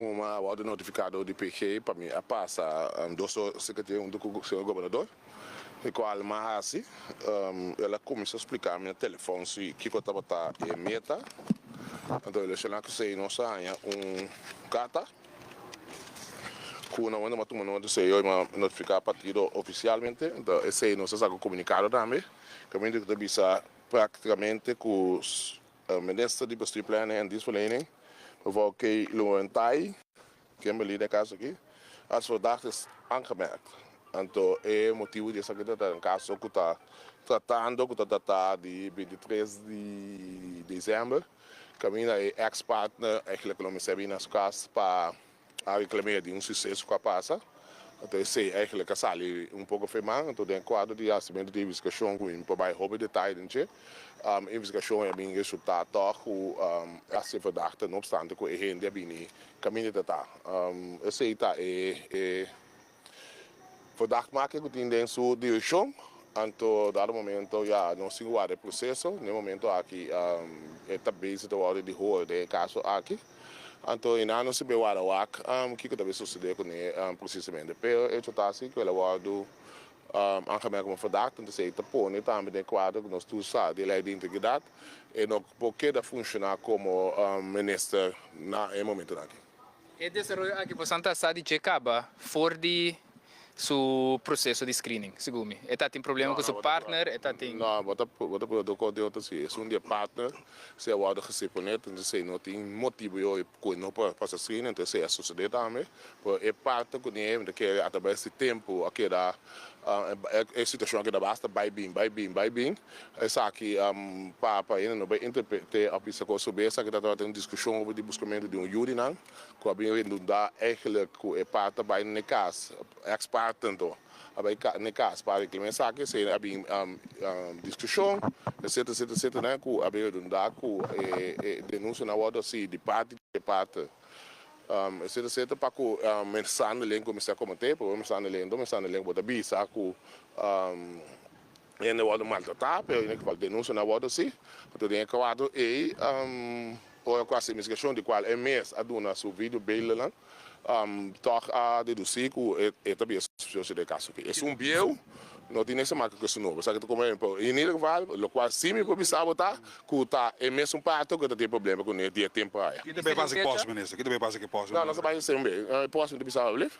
Mama a wòrdu notifikado di PG pa mi a pasa dos ora sikatía huntu ku señor gobernador, e kual mi a hasi. El a kuminsá spliká mi na telefòn si kiko tabata e meta. Anto relacioná ku esei nos a haña un karta ku nan wende mi a tuma nota esei oy mi a notifiká partido ofisialmente. Anto esei nos a sa ku komunikado tambe kamintu ku ta bisa praktikamente ku. Minister di Bestuur Planning en Dienstverlening, mevrouw Kay Loewenthai, Kimberly den kaso aki, as verdacht is aangemerkt. Anto e motibo di esaki ta den kaso ku ta tratando ku ta datá di binti tres di desèmber kaminda e ex partner, eisglek lo mi sebi na su kas pa Aki ta mira di un suceso cu a pasa, enton esey eigenlijk a sali un poco fe man, enton den e cuadro di hacimentu di investigacion cu mi por bay hopi detaye den dje, e investigacion ey a bini resulta tog cu e a ser verdad, no obstante cu e hende a bini caminda ta ta, esey ta e. Fodak ma ke ku tin den su dirishon, anto dado momento ya nos tin ku wak den e proseso. Na e momento aki e ta base ta wòrdu di hoor den e kaso aki. Anto i nan no sibi wara wak kiko ta bin sosodé kuné presisamente. Pero e hecho ta asi ku el a wòrdu angamea kuma fodak, entonces e ta pone tambe den e kuadro ku nos tur sa di lei di integridat. E no por keda funshoná komo minister na e momentonan aki. E desaroyo aki por Santa sa di dje kaba for di su proseso di screening, segun mi. E ta tin problema ku su partner, e ta tin. No, bo ta bo ta pueda dokó di otro si esun di e partner, si a wòrdu gesé p'e net, entonces esei no tin motibu yo'i ku e no por pasa screening, entonces esei a sosodé tambe. Pero e partner ku niña ta kere atrabes di tempu a keda, e situashon a keda basta bai bin, bai bin, bai bin. Esaki Papa Ayina no bai interpret'é òf bisa kos obe. Esaki ta tabata den un diskushon over di buskamentu di un yu di nan ku a bin rendundá èglik ku e pa ta bai na e kas, ex parte anto a bai na e kas pa reklama esaki. Esei a bin diskushon etcetera etcetera etcetera nan ku a bin rendundá ku e denunsianan a wòrdu hasi di parte di e parte etcetera etcetera pa ku mensandelen kuminsá koment'é. Primero mensandelen, dos mensandelen ku bo ta bisa ku. Hende a wòrdu maltratá, pero e kibak denunsia no a wòrdu hasi. Anto den e kuato ei, ora ku a hasi investigashon, di kual e mes a duna su video beeldennan, tòg a dedusí ku e ta bier suspioso di e kaso akí. Esun bieu no tin niks ta maka ku esun nobo, esaki ta komo ehempel. I en e geval, lokual sí mi por bisa bo ta ku ta e mesun parto ku e ta tin problema ku niño dié tempu aya. Kiko ta bai pasa ku e pòsme, minister? Kiko ta bai pasa ku e pòsme? No, nos a bai hasi un be. E pòsme ta bisa bo alblief?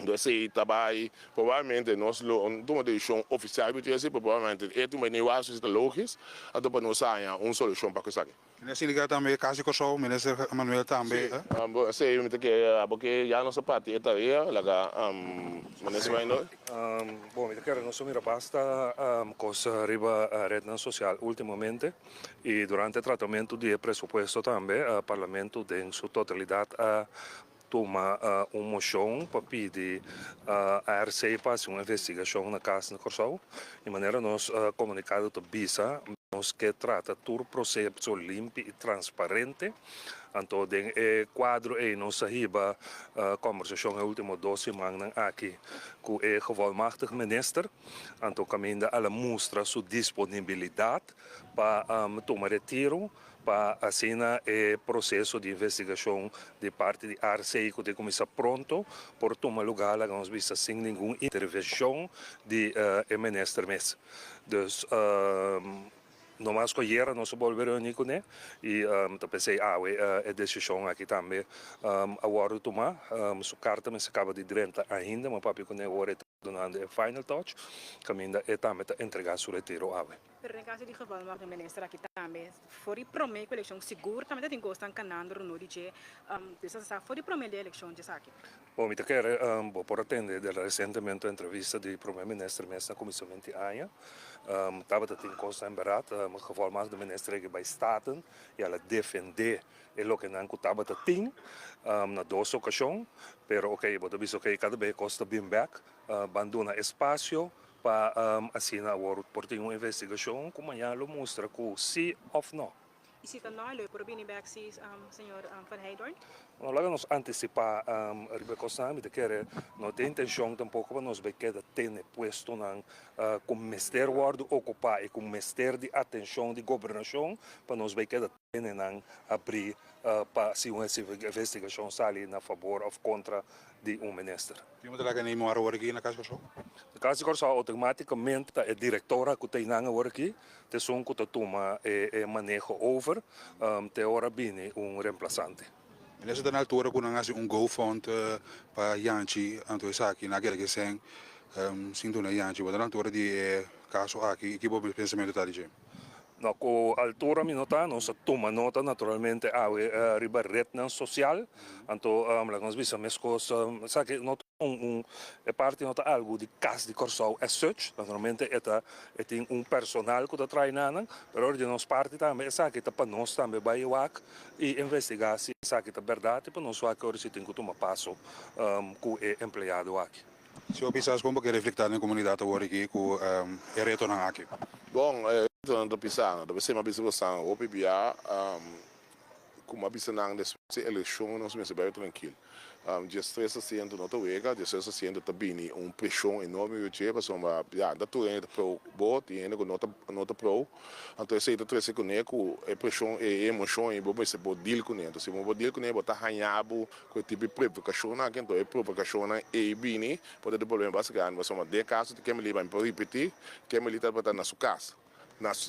Entonces ey ta bay probablemente nos lo tuma un decision oficial riba esaki, pero probablemente ey tuma niu aso si ta logis, anto pa nos haña un solucion pa cu esaki. Mester siliga tambe casi Kòrsou, Minister Manuel tambe, eh? Si, esey mi ta kere abo ke ya nos a parti e tarea, laga Minister Reynolds. Bon, mi ta kere nos a mira basta cos riba rednan social ultimamente y durante e tratamento di e presupuesto tambe, Parlamento den su totalidad a. tuma un moshon pa pidi RC pa hasi un investigashon na kas na Kòrsou i manera nos komunikado ta bisa nos ke trata tur proseso limpi i transparente. Anto den e kuadro ei nos a hiba kòmbersashon e último dos simannan aki ku e Gevolmagtigd Minister, anto kaminda al a mustra su disponibilidat pa tuma retiro. pa asina e proseso di investigashon di parti di RCI ku tin kuminsá pronto por tuma lugá, laga nos bisa, sin ningun intervenshon di e minister mes. Dus no mas ku ayera nos a bolbe reuní kuné i mi ta pensa i awe e desishon aki tambe a wòrdu tumá. Su karta mester kaba di drenta ainda, mi a papia kuné ora e ta dunando e final touch kaminda e tambe ta entregá su retiro awe. Pero den kaso di geval nos tin minister aki tambe, for di prome ku elekshon sigur tambe ta tin kosnan kanando runu di dje, Dios a sa for di prome di elekshon dje esaki. Bo mi ta kere bo por a tende de resentemente entrevista di prome minister mes na komision inti aña, tabata tin kosnan berat geval mas di minister aki bai staten i a la defende e lokenan ku tabata tin na dos okashon, pero oke bo ta bisa oke kada be e kos ta bin bek, ban duna espasio Pa asina awor por tin un investigashon ku maña lo mustra ku si òf nò. I si ta nò, e lo e por bini bèk si, señor Van Heydoorn? Nò, laga nos antisipá riba e kosnan. Mi ta kere no ta intenshon tampoko pa nos bai keda tene puestonan ku mester wòrdu okupá i ku mester di atenshon di gobernashon pa nos bai keda. Nenan abrí pa si un investigashon sali na fabor òf kontra di un minister. Tin un traha Kenei Mora awor aki na Kas di Kòrsou? Na Kas di Kòrsou outomátikamente ta e direktora ku ta einan awor aki, ta esun ku ta tuma e maneho over te ora bini un remplasante. Mira si ta na altura cu nan haci un go fund pa Yanchi anto esaki na keda ki seen sin duna Yanchi bo ta na altura di e caso aki y ki bo pensamento ta dje. No cu altura mi no ta, nos a tuma nota naturalmente awe riba rednan social anto laga nos bisa mescos esaki no ta un un e parti no ta algo di cas di Corsou as such naturalmente e ta e tin un personal cu ta traai nanan pero di nos parti tambe esaki ta pa nos tambe bay wak. y investigá si esaki ta berdad y pa nos wak ora si tin cu tuma paso cu e empleado aki. Señor Pisas, con bo ke reflecta den comunidad awor aki cu e retonan aki? Bon, e retonan ta pisando, ta bese mi a bisa cu estan hopi biaha, como a bisa nan despues di eleccion nos mester bay tranquil. Dje stres a siente no ta wega, dje stres a siente ta bini un preshon enorme riba dje, pasobra ya no tur hende ta prou bo, tin hende ku no ta no ta prou. Anto esei ta trese kuné ku e preshon, e emoshon ei bo mester por dil kuné. Anto si bo por dil kuné bo ta hañá bo ku e tipo di provokashonnan aki. Anto e provokashonnan ei bini por ta di problema bas grandi, pasobra den e kaso di Kemberlee, bai mi por ripetí, Kemberlee tabata na su kas.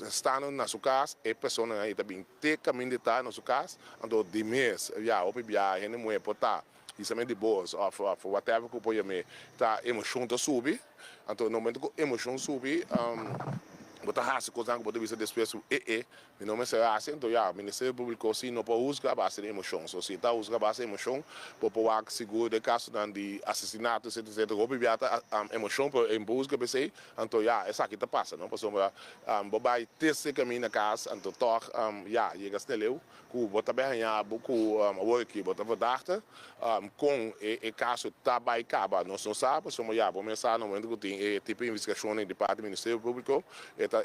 Stando na su cas, e personanan ei ta bin te camin di ta na su cas, anto di mes e viaha hopi biaha, hende muhé por ta y sa me di bos of whatever cu por yam'é ta emocion ta subi, anto na momento cu emocion subi bo ta haci cosnan cu bo ta bisa despues e'e mi no mester haci, anto ya Ministerio Publico si no por huzga a base di emocion, so si ta huzga a base di emocion bo por wak sigur den casonan di asesinato etcetera etcetera cu hopi biaha ta emocion pero e no por huzga p'esey, Anto ya, esaki ta pasa no, pasobra bo bai test e camí na cas, anto tog ya yega sneleu cu bo ta bai haña abo cu awor aki bo ta verdachte con e caso ta bai caba nos no sa, pasobra ya bo mes sa na momento cu tin e tipo investigacionnan di parti Ministerio Publico e ta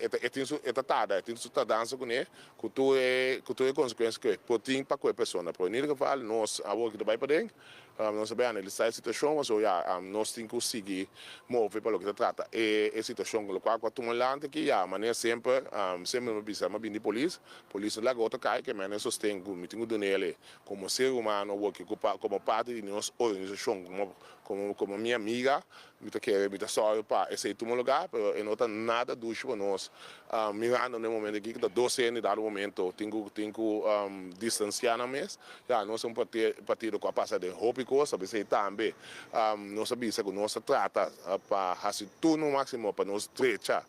tarda, e tin su tardansa cune cu tur e consecuencia cu e por tin pa cu e persona, pero en ieder geval nos awor aki ta bai paden. Nos a bai analisá e situashon a so ya nos tin ku sigui move pa loke ta trata e e situashon lokual ku a tuma lanti aki ya manera semper semper mi a bisa mi a bin di polis polis no laga otro kai ke mester mi a sosten ku mi tin ku duna el e komo ser humano a wòrdu okupá komo parti di nos organisashon komo komo komo mi amiga Mi ta kere, mi ta sòru pa esei tuma lugá, pero e no ta nada dushi pa nos. Mirando na e momento aki ku ta dos hende i dado momento tin ku tin ku distansiá nan mes, ya nos ta un partido ku a pasa den hopi kos, a bis'ei tambe nos a bisa ku nos ta trata pa hasi tur nos máksimo pa nos strecha.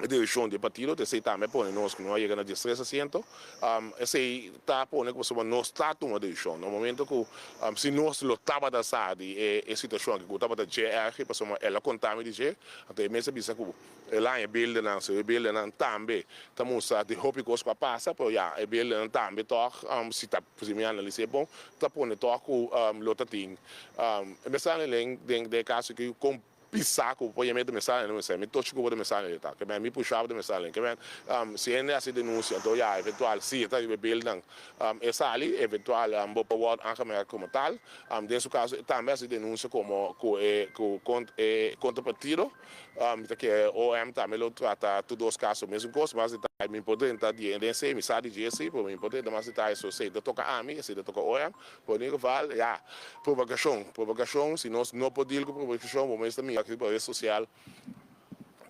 E direkshon di e partido ta esei tambe a pone nos ku no a yega na diestres asiento. Esei ta pone ku pasobra nos ta tuma direkshon na un momento ku si nos lo tabata sa di e situashon aki ku tabata dje ergi pasobra el a konta mi di dje. Anto e mes a bisa ku e laña beldenan so. E beldenan tambe ta mustra di hopi kos ku a pasa pero ya e beldenan tambe tòg si ta si mi analis'é bon ta pone tòg ku lo ta tin e mestran elen den e kaso aki kon. Pisa cu pue yami ta me salen un semi tochi cubo de me salen yo ta que ben mi pushaba de me salen que ben si hende haci denuncia enton ya eventual si e ta riba beelnan e sali eventual bo por word aangemerkt como tal den su caso e tambe haci denuncia como cu e cu e contrapartido mi ta kier OM tambe lo trata tur dos caso mesun cos mas detaye mi por drenta di den esey mi sa di dje esey pero mi por drenta mas detaye so esey ta toca ami esey ta toca OM Por e geval, ya, propagashon, propagashon, si nos no por dil ku propagashon bo mester mira aki pa res sosial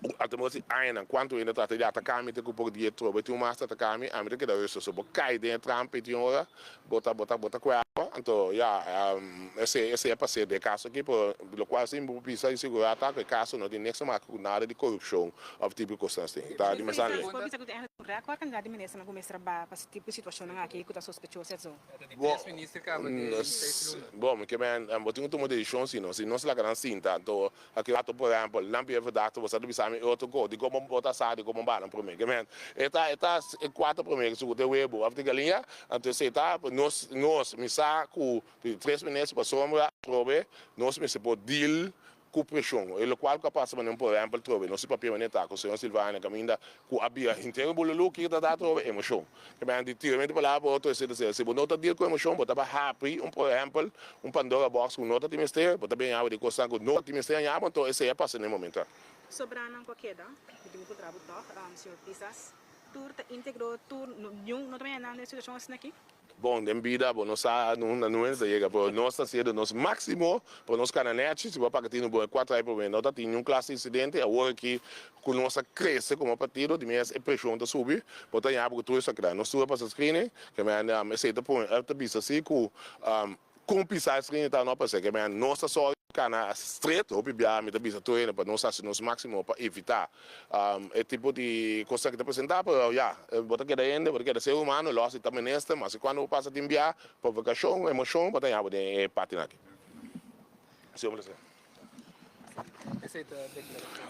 ku a ta mira si añanan kuantu hende ta trata di ataka mi te ku por di e troba e tin un masta ataka mi, ami ta keda ruso. So bo kai den e trampa e tin ora bo ta bo ta bo ta kuerpa. Anto, ya, esei esei a pas'é den e kaso aki pero lokual sin bo por bisa insegurata ku e kaso no tin neks ta maka ku nada di korupshon òf tipo di kosnan así. Ta di mesá lei. Nos por bisa ku ten e rèkòrd kantidad di ministernan ku mester a bai pa si tipo di situashonnan aki ku ta sospechoso, etc. Bo, bo, mi ke men, bo tin ku tuma un desishon si no. Si nos laga nan sinta, anto a ke rato, por ehèmpel, nan bira verdat, bo sa ta bisa mi otro kos, dikon bo ta sa, dikon bo bala promé. Ke men, e ta, e ta e kuater promé ke sukuta e webo, after ke aliña, anto esei ta ape. Nos, nos, mi sa ku tres minutes pasobra, probe, nos mester por deal ku preshon, e lokual ku a pasa manera por ehèmpel trobe nos i papia manera ta ku señor Silvania kaminda ku a bira henter i bo lo luki ta da trobe emoshon. Kemia di tiramente palabra bo ta esei ta ser si bo no ta dil ku emoshon bo ta ba hapri un por ehèmpel un pandora box ku no ta tin mester bo ta bin añaba di kosnan ku no tin mester añaba anto esei a pasa na e momento aki. Sobranan ku a keda mi tin ku kontra bo tòg señor Pisas tur ta integro tur niun no ta maña nan den e situashon asina aki. Bon, den bida bo no sa unda nues ta yega, pero nos ta haciendo nos maximo pa nos cana nechi, si bo a paca tin un bon e cuatro ai prome no ta tin niun clas di incidente, awor aki cu nos a crece como partido di mes e presion ta subi, bo ta yabi cu tur esaki ta nos tur a pasa screening, kemende esey ta pone, ta bisa si cu. Con pisa e frienditan no a pasia ke men nos ta sòri di cana stret. Hopi biaha mi ta bisa tur hende pa nos haci nos maximo pa evita e tipo di cosnan ke ta presenta, pero ya, bo ta keda hende, bo ta keda ser humano, lo haci ta menester, ma si cuando bo pasa tin biaha pa vacacion, emocion bo ta yahabo den e partenan aki.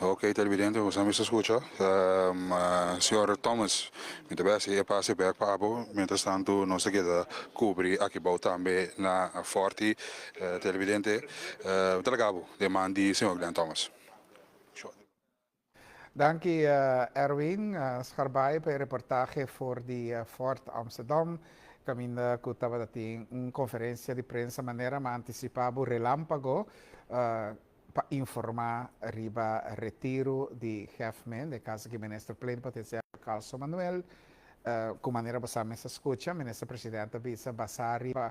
Ok televidente, we sabi escucha. Um, uh, señor Thomas, mi te besi e pase back pa abo. Mientras tanto, nos te queda cubri aquí bau tambe na Forti. Uh, televidente, uh, te lagabo de man di señor Glenn Thomas. Danki Erwin Scharbaay pa e reportahe for di Fort Amsterdam, caminda cu tabata tin un conferencia di prensa manera m'a anticipa bo relampago pa informa riba retiro di Hef Min den caso cu Minister Plenipotenciario Carlson Manuel. Cu manera bo sa mester scucha, Minister Presidente a bisa basa riba.